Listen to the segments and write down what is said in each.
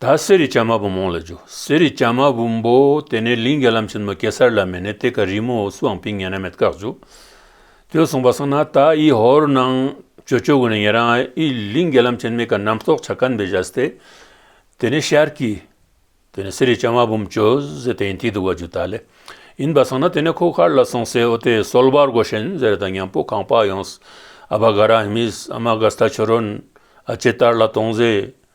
ད་གསེར་རི་བྱ་མ་བུ་མོང་ལ་འཇུག་གསེར་རི་བྱ་མ་བུ་འབོ་དེ་ནས་ལིང་གེ་ལམ་ཆེན་མོ་གེ་སར་ལ་མེད་ནས་དེ་ག་རི་མོ་འོ་སུའང་ཕིང་ངན་ན་མེད་བཀག་འཇུག་དོས་གསུངས་པ་སང་ན་ད་ཨི་ཧོར་ནང་ཇོ་ཆོས་དགོན་ནས་ངེད་རང་ཨི་ལིང་གེ་ལམ་ཆེན་མེད་ག་ནམ་རྟོག་བྱ་ཀན་བེ་བཞའ་སྟེ་དེ་ནས་ཤར་གི་དེ་ནས་གསེར་རི་བྱ་མ་བུ་མོ་ཇོ་ཟེ་དེ་ཡིན་དེ་འདུག་བ་འཇུ་ད་ལེ་ཡིན་པ་སང་ན་དེ་ནས་ཁོ་ཁར་ལ་སོང་སའི་འོ་དེ་སོལ་བར་གོ་ཤན་ཟེ་རེ་ད་ཉང་པོ་གང་བག་ཡོང་ཨ་བ་ག་ར་ཧི་མིས་ཨ་མ་ག་སྟ་ཆོས་རོན་ཨ་ཅེ་ཏར་ལ་དོང་ཟེ་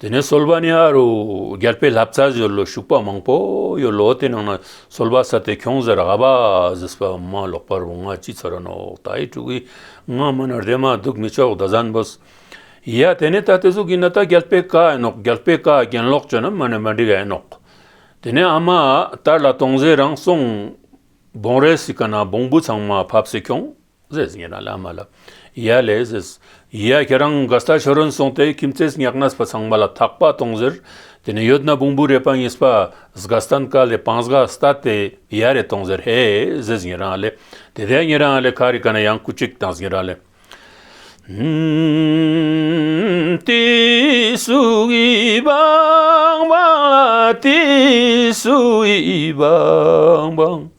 དེ་ནས་སོལ་བ་ནི་ཨ་རུ་རྒྱལ་པོའི་ལྷ་བཙའ་ཟོལ་ལོ་ཞུགས་པ་མང་པོ་ཡོད་ལོ་དེ་ནང་ན་སོལ་བ་ས་དེ་ཁྱུང་ཟེར་ཨ་བ་ཟིས་པ་མ་ལོག་པར་འོང་ང་ཅི་ཚོར་ནོག་ད་ཡི་ཕྲུ་གུའི་ང་མ་ནོར་དེ་མ་སྡུག་མི་ཆོག་ད་ཟན་བུ་ཡ་དེ་ནས་ད་དེ་གཟུགས་ཀྱི་ན་ད་རྒྱལ་པོའི་བཀའ་ཡིན་ནོག་རྒྱལ་པོའི་བཀའ་གྱེན་ལོག་བྱོས་ན་མ་ནི་མ་འགྲིག་ཨེ་ནོག་དེ་ནས་ཨ་མ་ཨ་དར་ལ་དོང་ཟས་རང་སོང་བོང་རས་སི་ཀ་ན་བོང་བུ་ཚང་མ་ཕབ་སི་ཁྱུང། ཟེར་ཉེས་ན་བླ་མ་ལ་ཡཱ་ལས་ཟེར། ཡཱས་ཁྱེད་རང་ག་ས་ཆོས་རན་གསུངས་ཏེ་ཁྱིམ་མཚེས་ཉག་ནས་པ་ཚང་མ་ལ་ཐག་པ་གཏོང་ཟེར། དེ་ནས་ཡོད་ན་བུང་བུ་རེད་པ་གཉིས་པ་སྒ་སྟ་ནི་ཀ་ལས་པང་སྒ་སྟ་སྟེ་ཡཱ་རེད་གཏོང་ཟེར་ཧེས་ཟེར་ཉེས་རང་ལས་དེ་ལྟའི་ཉེས་རང་ལས་ཁ་རི་ཀ་ན་ཡང་སྐུ་གཅིག་དང་ཟེར་ཉེས་རང་ལས། དེ་སུ་ཡི་བང་བང་ལ་དེ་སུ་ཡི་བང་བང།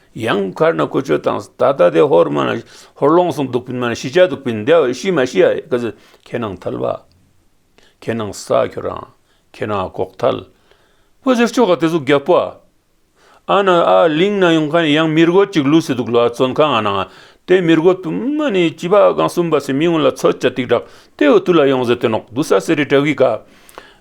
ཡང་མཁར་ན་ཁོ་ཆོས་དང་ད་ལྟ་དེ་ཧོར་མ་ཧོར་ལོངས་སུ་འདུག་པིན་མ་ཤི་བྱ་འདུག་པིན་འདའོ་ཤི་མ་ཤི་ཡ་གཟི་ཁྱེད་ནང་ཐལ་བ། ཁྱེད་ནང་བསགས་ཁྱོད་རང་ཁྱེད་ནང་ཨ་ཁོག་ཐལ། བ་ཟེར་ཆོ་ག་དེ་ཚོ་རྒྱབ་པོ། ཨ་ན་ཨ་གླིང་ན་ཡོང་མཁན་ཡང་མི་རྒོད་ཅིག་ལུས་སེ་འདུག་ལོ་ཨ་ཙོན་ཁ་ང་ནང་དེ་མི་རྒོད་པིན་མ་ནི་བྱིས་པ་གང་གསུམ་པ་སེ་མི་ངོ་ལ་ཚོད་ཅ་ཏིག་དྲག་དེ་འུ་ཐུག་ལ་ཡོང་ཟེ་དེ་ནོག་དུ་ས་སེ་རི་བྲག་གི་ཁ་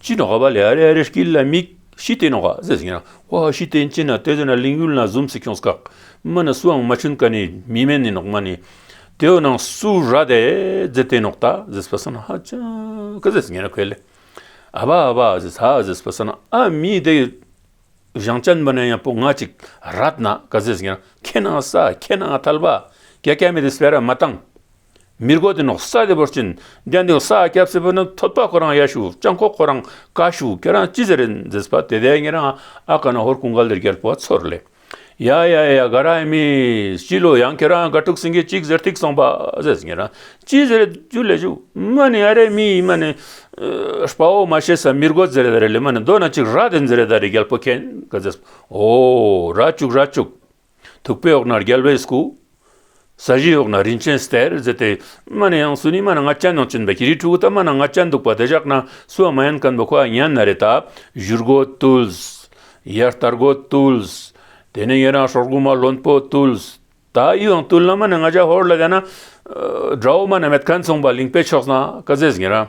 ཅི་ནོ་ཧ་བ་ལེ་ཨ་རེ་ཨ་རེ་ཀི་ལ་མིག་ཤི་ཏེ་ནོ་ཧ་ཟེ་ཟིང་ན་ཧོ་ཧ་ཤི་ཏེ་ཅི་ན་ཏེ་ཟེ་ན་ལིང་ཡུལ་ན་ཟུམ་སི་ཁྱོང་སྐག་མི་ནི་སུའང་མ་ཆུན་ཀ་ནི་མི་མེན་ནི་ནོག་མ་ནི་དེའོ་ནང་སུ་ར་དེ་ཟེ་ཏེ་ནོག་ད་ཟེ་སྤ་སོ་ན་ཧ་ཅང་ཀི་ཟེ་ཟིང་ན་ཁོལ་ལེ་ཨ་བ་ཨ་བ་ཨ་ཟེ་ཟ་ཨ་ཟེ་སྤ་སོ་ན་ཨ་མི་དེ་བཞང་ཅན་པ་ན་ཡང་པོ་ང་ཅིག་ར་ཏི་ན་ཀ་ཟེ་ཟིང་ན་ཁེ་ན་ས་ཁེ་ན་ཐལ་བ་ཀྱ་ཀྱ་མེ་དེ་སྤེ་ར་མ་ཏང། མིར་གོ་དེ་ནོག་སྭ་དེ་བོར་ཅིན་རྒྱ་འདིའོ་སྭ་སྐྱབས་སེ་བོ་ནི་ཐོད་པ་ཁོ་རང་ཡ་ཤུ་ཅང་ཁོ་ཁོ་རང་ཀ་ཤུ་ཁྱེད་རང་ཅི་ཟེར་རེད་འཛེས་པ་དེ་དེ་ངེད་རང་ཨ་ཀ་ན་ཧོར་ཀུན་ག་ལེར་རྒྱལ་པོ་བ་ཚོར་ལེ་ཡ་ཡ་ཡ་ག་ར་ཨེ་མིས་སྐྱིད་ལོ་ཡང་ཁྱེད་རང་ག་ཕྲུག་སེང་གེ་ཅིག་ཟེར་ཐིག་སོང་པ་ཟེས་ངེད་རང་ཅི་ཟེར་རེད་ཇུ་ལེ་ཇུ་མ་ནི་ཡ་རེ་མིས་མ་ནི་སྤ་བོ་མ་ཤེས་སྭ་མིར་གོ་ཟེར་རེད་རེད་ལེ་མ་ནི་མདོ་ན་ཅིག་ར་དེ་འཛེར་རེད་རེད་རྒྱལ་པོ་ཁྱེད་ག་ཟེས་འོ་ར་བཅུག་ར་བཅུག། ཐུག་པའི་འོག་ན་རྒྱལ་བའི་སྐུ། ས་གཞིའི་འོག་ན་རིན་ཆེན་གསེར་མཛེས་ཏེ། པདྨ་ནི་ཡང་སུ་ནི་མ་ན་ང་ཅན་ནང་བྱོན་པའི་ཤེས་རིག་ཕྲུ་གུ་པདྨ་ན་ང་ཅན་འདུག་པ་དེ་བཞག་ན་སུ་བ་མ་ཡན་ཀན་པོ་ཁོ་ཨ་མྱན་ན་རེ་ད་བཞུར་སྒོ་བཏུལ། ཡར་ལྟར་སྒོ་བཏུལ། དེ་ནས་ཡོན་རང་སྲོག་འགུགས་མ་བློན་པོ་བཏུལ། ད་ཡིའང་བཏུལ་ན་མ་ན་ང་ཅན་ཧོར་ལ་བསྡད་ན། དགྲ་བོ་མ་ན་མེད་ཁ་མཚུངས་པ་ལིང་པའི་ཕྱོགས་ན་ཀ་ཛེས་ངེ་རང།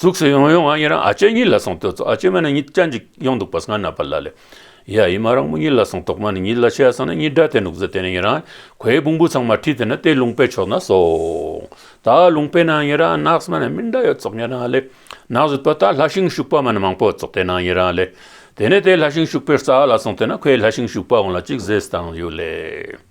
གཙུག་སེ་ཡོང་ཡོང་ང་ཡི་རང་ཨ་ཅེ་གཉིད་ལ་སོང་དུས་གཙུག་ཨ་ཅེ་མ་ནི་གཉིད་ཅན་ཅིག་ཡོང་འདུག་པར་སྔར་ན་པ་ལ་ལས། ཡ་ཡིད་མ་རང་མོ་གཉིད་ལ་སོང་དོགས་མ་ནི་གཉིད་ལ་ཆས་སོང་ན་གཉིད་དགྲ་དེ་འདུག་ཟེར་དེ་ནས་ཡི་རང་གོས་བུང་བུ་ཚང་མ་ཁྲིད་དེ་ན་དེ་ལུང་པའི་ཕྱོགས་ན་སོང། ད་ལུང་པའི་ནང་ཡི་རང་ནགས་མ་ནི་མི་འདྲ་ཡོད་གཙུག་ཡི་རང་ལས། ནགས་བཟོས་པ་ད་ལྷ་ཤིང་ཤུག་པ་མ་ནི་མང་པོ་གཙུག་དེ་ནང་ཡི་རང་ལས། དེ་ནས་དེ་ལྷ་ཤིང་ཤུག་པའི་རྩ་བ་ལ་སོང་དེ་ན་ཁོས་ལྷ་ཤིང་ཤུག་པ་འོང་ལ་ཅིག་བཟས་དང་ཡོད་ལས།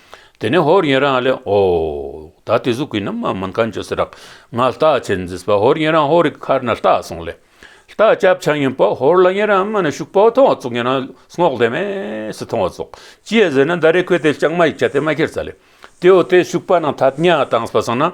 དེ་ནས་ཧོར་ཡན་རང་ལས་ཨོ། ད་དེ་གཟུགས་ཀྱི་རྣམ་མ་མིན་གང་བྱོས་སུ་རག། ང་རྟག་ཆད་འཛིན་པ་ཧོར་ཡན་རང་ཧོར་རིགས་མཁར་ན་རྟག་སོང་ལས། རྟག་སྐྱབས་ཆགས་ཡིན་པ་ཧོར་ལ་ཡན་རང་སྨད་ན་ཞུགས་པ་མཐོང་བ་ཙོག་ཡན་རང་སྔོག་ལས་སྨད་སུ་མཐོང་བ་ཙོག། ཅེས་ཟེར་ན་མནྡཱ་རའི་ཁུལ་དེ་ལྕགས་མ་ཡིག་བྱ་སྟེ་མ་ཁྱེར་ཚ་ལས། དེའོ་དེ་ཞུགས་པ་རྣམས་ཐ་སྙད་དང་སྦ་གསང་ན།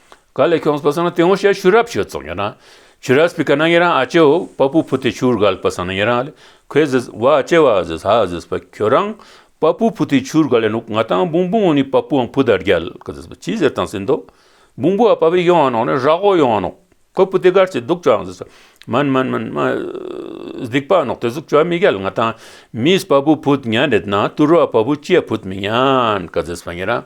ག་ལེ་ཁྱོང་སྤ་སང་ན་དེ་ངོ་ཤེས་ཤུ་རབ་ཤོད་ཙོང་ཡོད་ན་ཆུ་ར་སྤི་ཀ་ན་ཡེ་རང་ཨ་ཅེའོ་པ་པུ་ཕུ་ཏི་ཆུར་ག་ལེ་སྤ་སང་ན་ཡེ་རང་ཨ་ལེ་ཁོའི་ཟི་ཟི་བ་ཨ་ཅེ་བ་ཨ་ཟི་ཧ་ཨ་ཟི་སྤ་ཁྱོད་རང་པ་པུ་ཕུ་ཏི་ཆུར་ག་ལེ་ནུག་ང་ཏང་བུང་བུང་ཨོ་ནི་པ་པུའང་བུ་དར་རྒྱལ་ག་ཟི་སྤ་ཅི་ཟེར་ཏང་སིན་དོ་བུང་བུ་ཨ་པ་བི་ཡོང་ཨ་ནོག་ནི་ར་ཧོ་ཡོང་ཨ་ནོག་ཁོའི་བུ་དེ་གར་ཅི་འདུག་ཅོ་ཨང་ཟི་སྤ་མན་མན་མན་མ་ཟིག་པ་ཨ་ནོག་དེ་ཟུག་ཅོ་ཨ་མི་རྒྱལ་ང་ཏང་མིས་པ་པུ་བུ་ཏི་ཉན་རེད་ན་ཏུ་རོ་ཨ་པ་བུ་ཅེ་བུ་ཏི་མི་ཉན་ག་ཟི་སྤ་ཉེ་རང།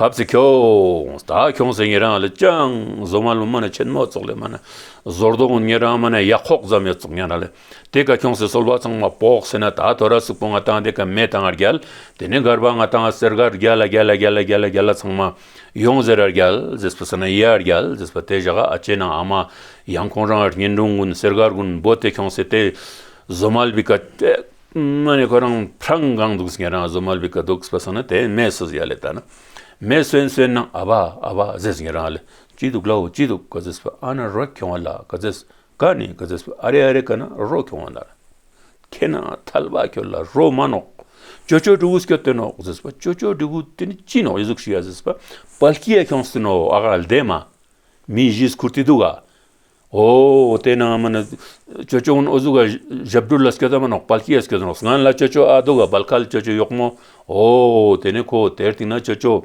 བབ་ཚེ་ཁྱོད་ད་ཁྱོངས་ཟེར་ངེད་རང་ལ་ཅང་བཟོ་མ་ལོ་མ་ན་ཆེན་མོ་ཙོག་ལེ་མ་ན་ཟོར་དོག་ངེད་རང་མ་ན་ཡ་ཁོག་ཙམ་ཡོད་ཙོག་ངེད་རང་ལ་དེ་ག་ཁྱོངས་ཟེར་སོལ་བ་ཚང་མ་བོག་ཟེར་ན་ད་དོ་ར་སུག་པོ་ང་དང་དེ་ག་མེ་དང་ཨར་རྒྱལ་དེ་ནས་མགར་བ་ང་དང་ཨ་སེར་ག་རྒྱལ་ཨ་རྒྱལ་ཨ་རྒྱལ་ཨ་རྒྱལ་ཨ་རྒྱལ་ལ་ཚང་མ་ཡོངས་ཟེར་ཨར་རྒྱལ་ཟེར་སྤུ་ས་ན་ཡེ་ཨར་རྒྱལ་ཟེར་སྤ་དེ་བཞག་ཨ་ཅེ་ན་ཨ་མ་ཡང་ཁོང་རང་ཨར་ཉིན་འགྲོང་གུན་སེར་ག་རྒུན་འབོ་དེ་ཁྱོངས་ཟེར་དེ་བཟོ་མ་ལ་བི་ཀ་ཏེ། ང་ནི་ཁོ་རང་བྲང་གང་འདུག་ཟེར་ང་རང་བཟོ་མ་ལུས་ག་འདུག་ཟེར་སོང་ན་དེས་མེ་གསོས་ཡ་ལེ་ད་ན་མེ་གསོས་གསོས་ན་ཨ་བ་ཨ་བ་ཟེར་ཟེར་ང་རང་ལ་ཅི་འདུག་ལའོ་ཅི་འདུག་ག་ཟེར་ཨ་ན་རོ་ཁྱོད་བ་ལ་ག་ཟེར་ག་ནི་ག་ཟེར་ཨ་རེ་ཨ་རེ་ག་ན་རོ་ཁྱོད་བ་ན་ར་ཁྱེད་ན་ཐལ་བ་ཁྱོད་ལ་རོ་མ་ནོག་ཅོ་ཅོ་གྲུ་གུ་སྐྱོ་སྟོན་ནོག་ཟེར་པ་ཅོ་ཅོ་གྲུ་གུ་དེ་ནི་ཅི་ནོག་ཡི་གཟུགས་ཤིག་ཡ་ཟེར་པ་པ་ལྐྱི་ཡ་ཁྱོད་སུ་ནོ་ཨ་ག་ལ་འདས་མ་མི་གཞིས་ཁུར་དེ་འདུག་ག། དེ་ནང་མིན། ཅོ་ཅོ་ཨོ་ཟུག་ག་ཞབས་བྲོ་ལ་སྐད་ད་མ་ནོག་པལ་སྐྱེས་སྐད་ནོག་སྔན་ལ་ཅོ་ཅོ་ཨ་དོ་ག་བལ་ཁལ་ཅོ་ཅོ་ཡོག་མོ་ཨོ་དེ་ནས་ཁོ་དེར་བཏིང་ན་ཅོ་ཅོ།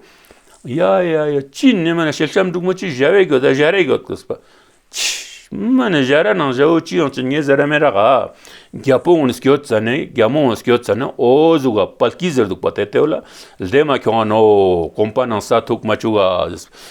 ཡ་ཡ་ཡ་ཅི་ནི་མ་ནི་ཤེལ་ཤམ་འབྲུག་མོ་ཅི་བཞའ་བའི་གོད་ད་བཞའ་རའི་གོད་གོད་པ། མ་ནི་བཞའ་ར་ནང་བཞའ་བོ་ཅི་ཡང་ཅི་ཉེས་ཟེར་ར་མེད་ར་ག། རྒྱ་པོ་ཨོན་སྐྱོད་ཙ་ནི་རྒྱ་མོ་ཨོན་སྐྱོད་ཙ་ནི་ཨོ་ཟུག་ག་བལ་སྐྱིས་ཟེར་འདུག་པ་དེ་ལྟེ་བ་ལ་ལྡེ་མ་ཁྱོང་ཨ་ནོ་གོམ་པ་ནང་ས་ཐུག་མ་བཅུག་ག།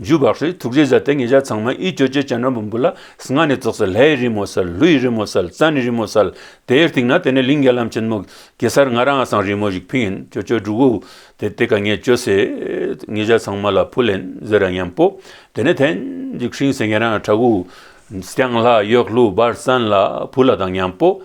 འཇུ་བག་ཧྲིལ་དུག་རེས་གཟའ་སྟེ་ངེད་ཅག་ཚང་མ་ཨི་ཅོ་ཅོ་སྤྱན་རབ་འབུམ་དགུ་ལ་སྔགས་ནི་རྫོགས་སལ་ལྷའི་ཡི་རི་མོ་སལ་ལྷུ་ཡི་རི་མོ་སལ་རྩ་ནི་རི་མོ་སལ། དེའི་སྟེང་ན་དེ་ནས་ལིང་ག་ལམ་ཆེན་མོ། གེ་སར་ང་རང་ཨ་སངས་རི་མོ་ཞིག་ཕིང་ཨིན་ཅོ་ཅོ་འབྲུག་འུ། དེ་སྟེ་ག་ངས་ཅོ་སེ། ངེད་ཅག་ཚང་མ་ལ་ཕུ་ལན་ཟེར་ར་མཉམ་པོ། དེ་ནས་ཐན། འཇིགས་ཧྲིང་སེ་ངེད་རང་ཨ་བྲག་འུ། སྐྱང་ལྷ་གཡོག་ལྷུ་སྦར་སན་ལ་ཕུ་ལ་དང་མཉམ་པོ།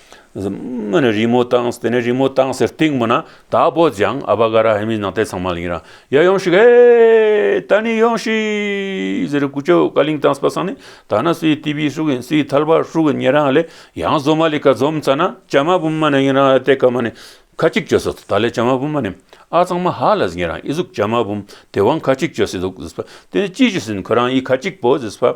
ཨ། རི་མོ་བཏང་དེ་ནས་རི་མོ་བཏང་ཟེར་སྟེང་མོ་ན་དྭགས་པོ་ལྗང་ཨ་བ་ག་ར་ཧེ་མི་ནག་ཏའི་ཚང་མ་ལིང་ར་ཡ་ཡོང་ཤིག་ཧེ་ད་ནི་ཡོང་ཤིག་ཟེར་རེ་ཀུ་ཅོ་ཀ་ལིང་བཏང་པ་སང་ནི་ད་ན་སུའི་ཏི་བི་ཧྲུག་གིན་སུའི་ཐལ་བ་ཧྲུག་གིན་ཉེ་རང་ལས་ཡང་བཟོ་མ་ལི་ཁ་འཛོམས་ཚ་ན་ཅ་མ་བུམ་མ་ནི་ཡིན་རང་ཏའི་ཀ་མ་ནི་ཁ་གཅིག་གཅོད་སོ་ད་ལས་ཅ་མ་བུམ་མ་ནི་ཨ་ཚང་མ་ཧ་ལ་ཟིན་ཡིན་རང་ཨི་གཟུགས་ཅ་མ་བུམ་དེ་བང་ཁ་གཅིག་གཅོད་སི་འདུག་ཟིས་པ་དེ་ནི་ཅི་ཞིག་ཟིན་ཁོ་རང་ཡི་ཁ་གཅིག་པོ་ཟིས་པ།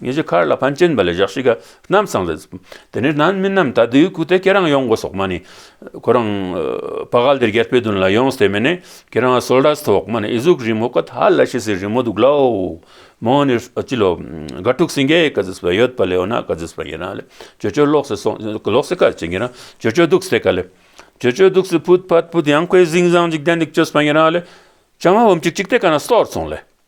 ངེད་ཀྱི་མཁར་ལ་ཕན་ཆེན་པ་ལས་བཞག་ཤི་ག་རྣམས་ཚང་ལ། དེ་ནས་ནང་མི་རྣམས་ད་དུས་ཁུག་སྟེ་ཁྱེད་རང་ཡོང་དགོས་སོགས་སྨྲ་ནས། ཁོ་རང། བ་ག་ལ་དེར་རྒྱལ་པོའི་དོན་ལ་ཡོང་སྟེ་མི་ནི་ཁྱེད་རང་སོལ་ར་སོགས་སྨྲ་ནས་ཨི་གཟུགས་རི་མོ་ཀ་དྷ་ལ་ཤི་སའི་རི་མོ་འདུག་ལ་འོ། མོ་ནི་ཅི་ལོ། དགའ་ཕྲུག་སེང་གེ་ཀ་ཟིས་པ་ཡོད་པ་ལས་འོ་ན་ཀ་ཟིས་པ་ཡིན་ན་ལེ། ཇོ་ཇོ་ལོག་སེ་སོང་ལོག་སེ་ཀ་ཅིག་ཡིན་ན་ཇོ་ཇོ་འདུག་སེ་ཀ་ལེ། ཇོ་ཇོ་འདུག་སེ་ཕུད་ཕ་ཕུད་ཡང་ཁོའི་གཟིངས་བཟང་འཇིག་རྟེན་འདུག་ཅོ་སྨྲ་ཡིན་ན་ལེ། བྱ་མ་འོམ་ཅིག་ཅིག་སྟེ་ཀ་ན་སོར་སོང་ལེ།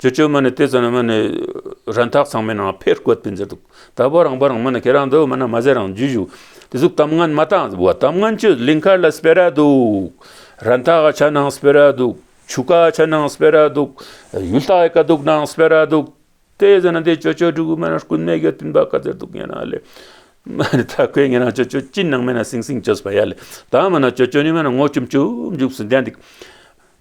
ཇོ་ཇོ་མོ་ནི་དེ་ཙམ་ན་མོ་ནི་རང་འཐག་ཚང་མའི་ནང་ཕེར་བཀོད་པའི་མཛད་འདུག་ད་བོ་རང་བོ་རང་མོ་ནི་ཁྱེད་རང་འདོད་མོ་ན་མ་ཟེར་རང་རྒྱུད་བཞུགས་དེ་གཟུགས་གཏམ་ངན་མ་བཏང་གཟིགས་བ་གཏམ་ངན་ཆུ་ལིང་ཁར་ལ་སྤེ་ར་འདུག་རང་འཐག་ག་ཆ་ནང་སྤེ་ར་འདུག་ཆུ་ཀ་ཆ་ནང་སྤེ་ར་འདུག་ཡུལ་ལྟ་ཡི་ཀ་དུག་ནང་སྤེ་ར་འདུག་དེ་ཙམ་ན་དེ་ཇོ་ཇོ་སྒྲུག་གི་མོ་ན་རྐུན་མའི་གེར་བཏིང་པ་ག་ཟེར་འདུག་ངན་ན་ལེ་མོ་ནི་ད་ཁོས་ངན་ན་ཇོ་ཇོ་ཅི་ནང་མེད་ན་སིང་སིང་བྱོས་པ་ཡ་ལེ་ད་མོ་ན་ཇོ་ཇོ་ནི་མོ་ན་ངོ་ཆུམ་ཆུམ་བཞུགས་སུ་འདས་འདུག་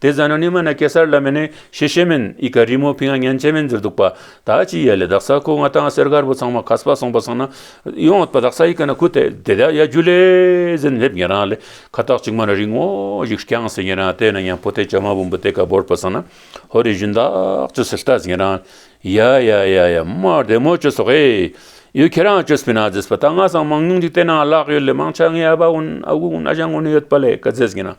དེ་བཟའ་ན་ནི་མ་ན་གེ་སར་བླ་མས་ནི་ཤེས་བྱེད་མིན་ཨི་ཀ་རི་མོ་ཕིང་ཨ་སྙན་བྱེད་མིན་ཟེར་འདུག་པ་ད་ཅི་ཡད་ལས་བདག་ས་ཁོ་ང་དང་སེར་དཀར་པོ་ཚང་མ་ཁ་སྤ་སོང་པ་སོང་ན་ཡོང་ཨོད་པ་བདག་ས་ཡི་ཀ་ན་ཁུ་དེ་དེ་དག་ཡ་རྒྱུ་ལས་ཟིན་སླེབས་ངེ་རང་ལས་ཁ་ཐག་གཅིག་མ་ན་རིང་ངོ་ཞིག་བསྐྱངས་ཟིན་ངེ་རང་དེ་ན་ཡང་ཕོ་ཏའི་བྱ་མ་བུམ་པོ་དེ་ག་བོར་པ་སོང་ན་ཧོ་རེ་བཞིན་བདག་ཅུ་སི་ལྟ་ཟིན་ངེ་རང་ཡ་ཡ་ཡ་ཡ་དམའ་བདེ་མོ་ཅུ་སོག་ཨེ་ཡོད་ཁྱེད་རང་ཅུ་སྤི་ན་ཛིས་པ་ད་ང་སང་མང་ཉུང་ཅིག་བལྟས་ན་གླག་ཡོད་ལས་མང་ཆ་ངའི་ཨ་བ་འུན་ཨ་བུ་འུན་ཨ་ཞང་འུན་ཡོད་པ་ལས་ཀ་ཛེས་ངེ་རང་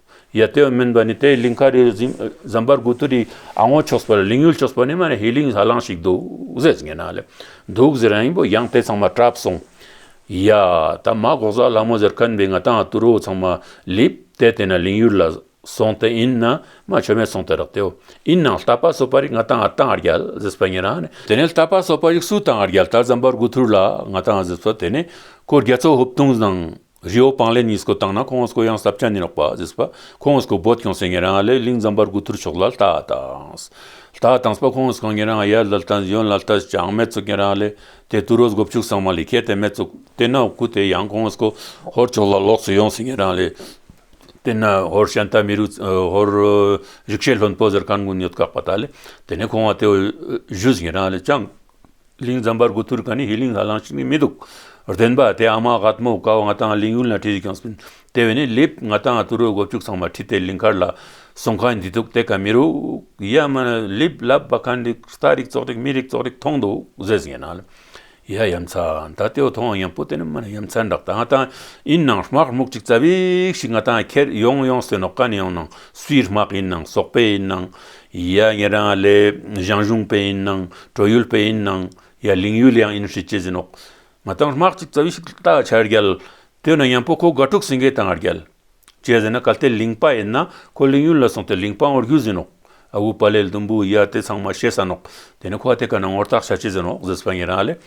ཡ། དེ་བས་མིན་པ་ནི་དེའི་ལིང་ག་རེ་ཟམ་པར་གུ་ཏུ་རི་ཨ་སྔོ་ཕྱོགས་སུ་ལིང་ཡུལ་ཕྱོགས་སུ་ནི་མ་ནི་ཧེ་ལིང་ཧ་ལང་ཞིག་འདུག་ཟེར་ངེས་ན་ལེ། འདུག་ཟེར་ཡང་ཡིན་པོ་ཡང་དེ་ཚང་མ་གྲབ་སོང། ཡ། ད་མ་གོག་ཟ་ལྷ་མོ་ཟེར་ཁན་པའི་ང་དང་ཏུ་རོ་ཚང་མ་ལིབ། དེ་དེ་ན་ལིང་ཡུལ་ལ་སོང་སྟེ་ཡིན་ན་མ་ཆོ་མེད་སོང་སྟེ་རག་དེའོ། ཡིན་ནང་ལྟ་པ་སོ་པ་རིག་ང་དང་ཨ་དང་ཨ་རྒྱལ་ཟེར་པ་ངེས་ན་ནི། དེ་ནས་ལྟ་པ་སོ་པ་རིག་སུ་དང་ཨ་རྒྱལ་ད་ཟམ་པར་གུ་ཏུ་རི་ལ་ང་དང་ཟེར་པ་དེ་ནི། ཁོ་རྒྱལ་ཚོ་ཧུབ་ཐུང་ཟང། རི་བོ་སྤང་ལེ་གཉིས་སྐུ་བཏང་ན་ཁོང་སྐུ་ཡང་ཟབ་ཅང་ནི་ལོག་པ་ཟིགས་པ་ཁོང་སྐུ་བོད་སྐྱོང་སེང་ངེ་རང་ཨ་ལས་གླིང་ཛམ་པར་སྐུ་ཐུར་ཕྱོགས་ལ་ལྟ་དང། ལྟ་དང་སྤ་ཁོང་སྐུ་ངེ་རང་ཨ་ཡར་ལལ་དང་གཞོན་ལ་ལྟ་ཅང་སྨད་ཙུག་ངེ་རང་ཨ་ལས་དེ་དུ་རོ་སྒོ་ཕྱུགས་སངས་མ་ལི་ཁའི་དེ་སྨད་ཙུག་དེ་ན་སྐུ་དེ་ཡང་ཁོང་སྐུ་ཧོར་ཕྱོགས་ལ་ལོག་སུ་ཡོང་སེང་ངེ་རང་ཨ་ལས་དེ་ན་ཧོར་ཤན་ཏཱ་མི་རུ་ཧོར་རིག་བྱེད་ལྷོན་པོ་ཟེར་གར་མགོན་ཉོད་དགག་པ་ད་ལས་དེ་ནས་ཁོང་བ་དེ་བཞུད་ཟིང་ངེ་རང་ཨ་ལས་ཅང། གླིང་ཛམ་པར་གུ་ཐུར་ག་ནི་ཧི་གླིང་ལ་ལང་ཞིག་ནི་མི་འདུག། རྟེན་པ་དེ་ཨ་མ་དགའ་ཐུ་མོ་དགའ་བ་ང་དང་གླིང་ཡུལ་ན་བྲིས་ཡོད་ཀྱང་སྲིད། དེ་བས་ནི་ལེབ་ང་དང་ཏུ་རོའི་སྒོ་ཕྱུགས་ཚང་མ་ཁྲིད་དེ་གླིང་མཁར་ལ་སོང་ཁ་འདི་འདུག་དེ་ག་མི་རུག་ཡ་མ་ལེབ་ལབ་པ་ག་འདི་ས་རིག་ཙོག་རིག་མི་རིག་ཙོག་རིག་མཐོང་འདུག་ཟེར་ཟིན་ན། ཡ་ཡ་མཚར་ད་ལྟའི་བ་ཐོང་ཡང་པོ་དེ་ནི་མ་ཡ་མཚར་འདྲག་ད་ང་དང་ཡིན་ནང་སྨག་སྨུག་ཅིག་རྩ་བེག་ཞིག་ང་དང་ཁྱེར་ཡོང་ཡོང་ཟེར་ནོ་ག་ནི་ཡོང་ནང་སུའི་སྨག་ཡིན་ནང་ཟོག་པའི་ཡིན་ནང་ཡ་ངེད་རང་ཨ་ལས་ཞང་ཞུང་པའི་ཡིན་ནང་བྲོ་ཡུལ་པའི་ཡིན་ནང་ཡ་གླིང་ཡུལ་ཡང་ཡིན་ཧྲིལ་གྱིས་ཟིན་འོག་ང་དང་དམག་ཅིག་རྩ་བའི་ཞིབ་ལྟ་བྱ་རྒྱལ་དེ་ན་ཉམས་པོ་ཁོ་དགའ་ཕྲུག་སེང་གེ་དང་རྒྱལ་བྱས་ཟིན་ན་གལ་ཏེ་གླིང་པ་ཡིན་ན་ཁོ་གླིང་ཡུལ་ལ་སོང་སྟེ་གླིང་པ་ངོར་རྒྱུགས་ཟིན་འོག་ཨ་བུ་པ་ལས་ལྡུམ་བུ་ཡ་དེ་ཚང་མ་བཤད་ས་ནོག་དེ་ནས་ཁོ་ཨ་དེ་ག་ན་ངོར་བརྟག་བྱ་བྱས་ཟིན་འོག་ཟིས་པ་ངེད་རང་ཨ་ལས།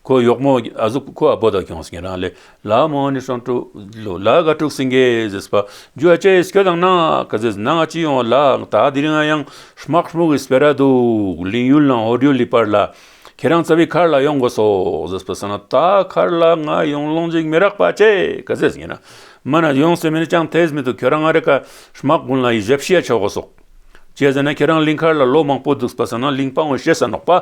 ཁོ་གཡོག་མོ་ཨ་ཟུག་ཁོ་ཨ་བོ་དག་ཀྱང་སེང་གེ་རང་ལས་ལ་མོ་ནི་སང་ཀྲོའུ་ལོ་ལ་ག་ཀྲུག་སེང་གེ་ཟེར་པ་རྒྱུ་ཨ་ཅེ་ཨེས་ཁྱོད་དང་ནང་ག་ཟེར་ནང་ཨ་ཅི་ཡོང་ལ་ད་འདིར་ང་ཡང་ཧྲྨག་ཧྲྨུག་ཨེས་པེ་ར་འདུག་ལིན་ཡུལ་ལང་ཨོ་རྒྱུ་ལི་པར་ལ་ཁྱེད་རང་རྩ་བའི་མཁར་ལ་ཡོང་དགོས་སོ་ཟེར་པ་ས་ན་ད་མཁར་ལ་ང་ཡོང་ལོང་འཇིག་མི་རག་པ་ཨ་ཅེ་ག་ཟེར་སེང་གེ་རང་མ་ན་ཡོང་སེ་མི་ནི་ཅང་ཐེས་མི་འདུག་ཁྱོད་རང་ང་རེ་ཀ་ཧྲྨག་དགུན་ལ་ཡི་ཞབས་ཤེས་ཡ་ཆོག་གོ་སོག་ཅེས་ཟེར་ན་ཁྱེད་རང་ལིང་མཁར་ལ་ལོ་མང་པོ་འདུག་པ་ས་ན་ལིང་སྤང་བའི་ཤེས་ས་ནོག་པ་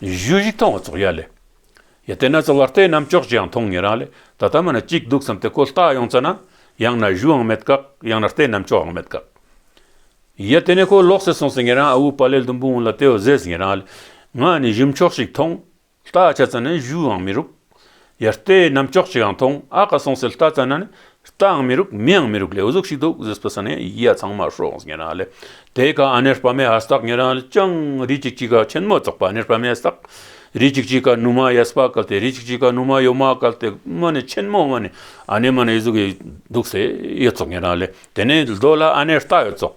གཞུ་བཞི་མཐོང་བ་ཚོགས་ཡ་ལས། ཡ་དེ་ན་ཚོགས་བར་དེ་རྣམས་ཅོག་ཅིའང་མཐོང་ངེས་རང་ལས་ད་ལྟ་མ་ན་གཅིག་འདུག་བསམ་སྟེ་ཀོ་བལྟ་ཡོང་ཙ་ན། ཡང་ན་གཞུའང་མེད་དཀའ། ཡང་ན་རྟེན་རྣམས་ཅོགའང་མེད་དཀའ། ཡ་དེ་ནས་ཁོ་ལོག་སེ་སོང་ཟེར་ངེས་རང་ཨ་བུ་པ་ལས་ལྡུམ་བུ་འོང་ལ་དེའོ་ཟེར་ངེས་རང་ལས། ང་ནི་གཞུ་མཆོག་ཞིག་མཐོང། བལྟ་བྱ་ཙ་ན་གཞུའང་མི་རུབ། ཡར་ལྟས་གནམ་ལྕགས་ཅིའང་མཐོང་ཨ་ཁ་སོང་ཟིལ་རྟ་རྩ་ན་ནི་རྟའང་མི་རུག་མིའང་མི་རུག་ལས་གཟུགས་ཤིག་འདུག་ཟིལ་སྤུ་ས་ནས་ཡིད་ཡ་ཚང་མ་ཧྲོག་ངེ་རང་ལས་དེ་ག་ཨ་ནེར་པ་མའི་ཨ་སྟག་ངེ་རང་ལས་ཅང་རི་ཅིག་ཅིག་ག་ཆེན་མོ་བཙོག་པ་ནེར་པ་མའི་སྟག་རི་ཅིག་ཅིག་ག་ནུ་མ་ཡ་སྤ་གལ་ཏེ་རི་ཅིག་ཅིག་ག་ནུ་མ་ཡོ་མ་གལ་ཏེ་མ་ནི་ཆེན་མོ་མ་ནི་ཨ་ནེ་མ་ནི་ཡོད་གཟུགས་ཡོད་འདུག་ཟེ་ཡོད་བཙོག་ངེ་རང་ལས་དེ་ནས་ལྡོ་ལ་ཨ་ནེ་རྟ་ཡོད་བཙོག་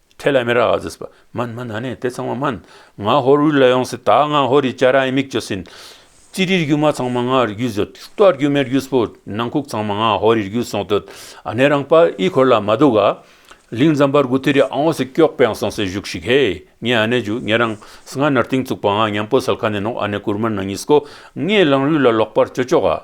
ཐེ་ལ་མེ་ར་ཨ་ཛིས་པདྨ་མ་ན་ནས་དེ་ཚང་མ་སྨན། ང་ཧོར་དབུས་ལ་ཡོང་སྲིད་ད་ང་ཧོར་ཡི་ཅཱ་ར་ཨི་མིག་ཅོ་སིན། ཙི་རིའི་རྒྱུ་མ་ཚང་མ་ང་རི་རྒྱུད་བཟོད། ཏོ་ཨར་རྒྱུ་མེར་རྒྱུད་སྤོ། ནང་ཁུག་ཚང་མ་ང་ཧོར་ཡི་རྒྱུད་སོང་དོད། ཨ་ནེ་རང་པཱ་ཨི་འཁོར་ལ་མ་འདུག་ག། ལིང་ཛམ་པར་གུ་ཐི་རི་ཨང་ཨོ་སི་ཀྱོག་པའང་སོང་སའི་གཞུག་ཞིག་ཧེ། ངས་ཨ་ནེ་ཇུ་ངེད་རང་སི་ང་ནར་ཏིང་བཙུགས་པ་ང་ཉམས་པོ་སལ་ཁ་ནས་ནོག་ཨ་ནེ་ཀུར་མར་ནང་ཉིས་སྐོ། ངས་ལང་རུས་ལ་ལོག་པར་སྤྱོད་ཆོག་ག།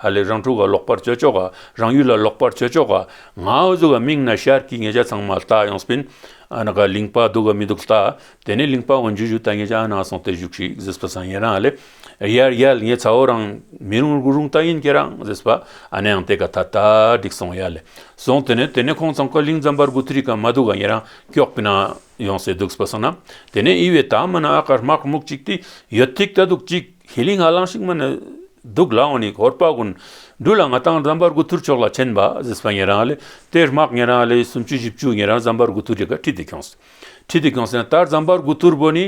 ཧ་ལས་རང་ཕྲུག་ག་ལོག་པར་སྤྱོད་ཆོག་ག་རང་ཡུལ་ལ་ལོག་པར་སྤྱོད་ཆོག་ག་ང་འུ་ཚོ་ག་མིང་ན་ཤར་གྱི་ངེད་ཅག་ཚང་མ་ལྟ་ཡོང་སྤིན་ཨ་ན་ག་གླིང་པ་འདུག་ག་མི་འདུག་ལྟ་དེ་ནས་གླིང་པ་འོ་འཇུ་འཇུ་ད་ངེད་ཅག་ཨ་ན་སོང་སྟེ་བཞུགས་ཤིག་ཟེས་པ་སང་ངེད་རང་ཨ་ལས་ཡར་ཡལ་ངེད་ཚ་བོ་རང་མི་རུང་རུ་རུང་ལྟ་ཡིན་ཁྱེད་རང་ཟེས་པ་ཨ་ནའང་དེ་ག་ད་ད་འགྲིག་སོང་ཡར་ལས་སོང་དེ་ནས་དེ་ནས་ཁོང་ཚང་ག་གླིང་ཛམ་བར་དགུ་ཐིར་ག་མ་འདུག་ག་ངེད་རང་སྐྱོག་སྤིན་ཨ་ཡོང་སེ་འདུག་ཟེས་པ་སོང་ན་དེ་ནས་ཨི་བས་ད་མ་ན་ཨ་གར་དམག་མུག་ཅིག་ཏི་ཡོད་ཐིག་ལྟ་འདུག་ཅིག། ཧེ་ལི་ང་གླང་ཤིག་མ་ནི་སྡུག་ལ་འོང་ནི་གོར་པ་ཀུན་འདུས་ལ་ང་དང་ཛམྦྷ་རྒུ་ཐུར་ཕྱོགས་ལ་ཆེན་པ་ཟིས་པ་ངེད་རང་ལས་དེར་དམག་ངེད་རང་ལས་སུམ་ཅུ་བཞི་བཅུ་ངེད་རང་ཛམྦྷ་རྒུ་ཐུར་རེ་ག་ཁྲིད་དུ་འཁྱོངས། ཁྲིད་དུ་འཁྱོངས་ཟིན་ལྟར་ཛམྦྷ་རྒུ་ཐུར་བོ་ནི་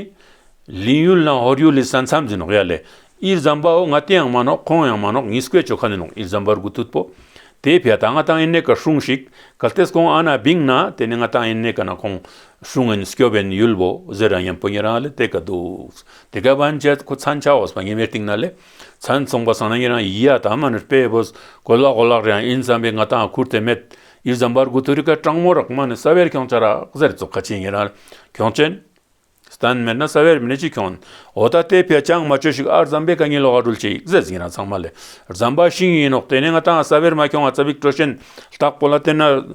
ལིན་ཡུལ་ནང་ཧོར་ཡུལ་ལི་ས་མཚམས་ཟིན་ནོག་ཡ་ལས་ཨིར་ཛམྦྷ་འོ་ང་དེའང་མ་ནོག་ཁོང་ཡང་མ་ནོག་ངིས་བཀོད་ཆོ་ག་ནི་ནོག་ཨིར་ཛམྦྷ་རྒུ་ཐུར་བོ་དེའི་ཕའི་ད་ང་དང་ཨིན་ནེ་ཀ་ཧྲུང་ཤིག་གལ་ཏེས་ཁོང་ཨ་ན་བིང་ན་དེ་ནི་ང་དང་ཨིན་ནེ་ཀ་ན་ཁོང་ཧྲུང་ཨིན་སྐྱོ་བན་ཡུལ་བོ་ཟེར་རང་ཡན་པོ་ངེད་རང་ལས་དེ་ག་འདུག་དེ་གའི་བན་ཆད་ཁུ་ཚན་ཆ་བོས་པ་ངེས་པའི་སྟེང་ན་ལས་ཚན་མཚུངས་པ་སང་ན་ཡེ་རང་ཡི་ཡ་དམ་ནི་པའི་བོས་གོ་ལག་གོ་ལག་རེ་ཡང་ཨིན་བསམ་པའི་ང་དང་ཁུར་དེ་མེད་ཡིད་བཟང་འབར་དགུ་ཐུ་རི་ཀ་སྤྲང་མོ་རག་མ་ནི་ས་བེར་ཁྱོང་ཆ་རག་གཟེར་བཙོ་ཁ་ཆེ་ངེས་རང་ཁྱོང་ཆེན། སྟན་མེད་ན་ས་བེར་མི་ནི་ཅི་ཁྱོང་འོ་ད་ལྟའི་བེ་ཅང་མ་ཅོ་ཞིག་ཨར་བཟང་པའི་ཀ་ཉིན་ལོག་ཨ་རུལ་ཆེ་ཡིག་གཟེར་ཟིང་རང་ཚང་མ་ལས་བཟང་པ་ཤིང་ཡིན་ནོག་དེ་ནས་ང་དང་ས་བེར་མ་ཁྱོང་ཨ་ཚ་བིག་ཀྲོ་ཤན་སྟག་པོ་ལ་བསྟེན་ན་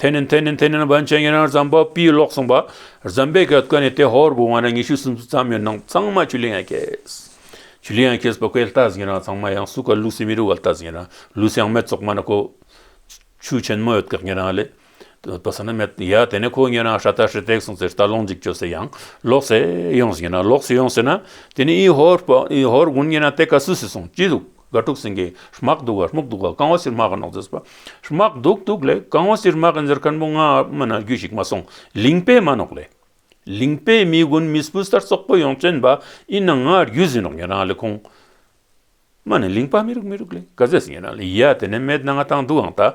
དེ་ནི་དེ་ནི་དེ་ནི་བན་ཆེན་ཡིན་ན་རྫམ་པ་པི་ལོག་གསུངས་པ་རྫམ་པའི་གེ་སྐོན་ནི་དེ་ཧོར་བུ་བང་ར་ཉི་ཤུ་སུམ་ཅུ་ཙམ་ཡོད་ནང་གཙང་མ་ཆུ་ལི་ཡང་གེས་ཆུ་ལི་ཡང་གེས་པ་ཀོས་ལྟ་ཟིན་རང་གཙང་མ་ཡང་སུ་ཀ་ལུགས་སི་མི་རུ་བ་ལྟ་ཟིན་རང་ལུས་ཡང་མེད་ཙོག་མ་ན་ཀོ་ཆུ་ཆེན་མོ་ཡོད་གེགས་ཉེ་རང་ལས་པ་ས་ན་མེད་ཡ་དེ་ནི་ཁོ་ཉེ་རང་ཧྲ་ཏ་ཧྲི་ཏེག་གསུངས་ཚེ་རྟ་ལོང་འཇིག་ཅོ་སེ་ཡང་ལོག་སེ་ཡོང་ཟིན་རང་ལོག་སི་ཡོང་སེ་ན་དེ་ནི་ཨི་ཧོར་པ་ཨི་ཧོར་དགུན་ཉེ་རང་དེ་ཀ་སུ་སི་སོང་ཅི་ལུགས། དགའ་སྤྲོ་ཟིང་གེ་ཧྲྨག་སྡུག་ག་ཧྲྨུག་སྡུག་ག་རྐང་བ་སིར་རྨག་ག་ནག་རྫས་པ། ཧྲྨག་སྡུག་སྡུག་ལས་རྐང་བ་སིར་རྨག་ག་འཛེར་ཁ་ནུབ་མོ་ངའམ་ན་རྒྱུས་ཞིག་མ་སོང་ལིང་པའི་མ་ནོག་ལས། ལིང་པའི་མི་དགུན་མི་སྤུ་སར་ཙོག་པོ་ཡོང་བཙོན་པ་ཨིན་ན་ང་རྒྱུས་ཟིན་རོགས་ཉན་རང་ལས་ཁུང། མ་ནི་ལིང་པ་མི་རུག་མི་རུག་ལས་ག་ཟས་ཟིན་ཡན་རང་ལས་ཡ་དེ་ནས་མེད་ན་ང་ཐང་སྡུག་ཨང་ད།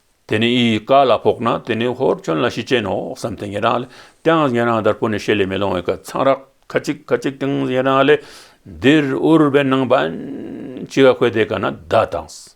དེ་ནི་ཨི་ཡིག་ཀ་ལ་ཕོག་ན་དེ་ནི་ཧོར་ཁྱོད་ལ་ཤི་རྐྱེན་ནོ་བསམ་སྟེ་ཉན་རང་ལས་ཀྱང་ཉན་རང་དར་པོ་ནི་ཤེད་ལས་མི་ལོང་བས་ཁ་ཚང་རག་ཁ་ཅིག་ཁ་ཅིག་དང་ཉན་རང་ལས་འདིར་འུར་བའི་ནང་པ་འཆི་བ་ཁོས་དེ་ག་ན་ད་དང།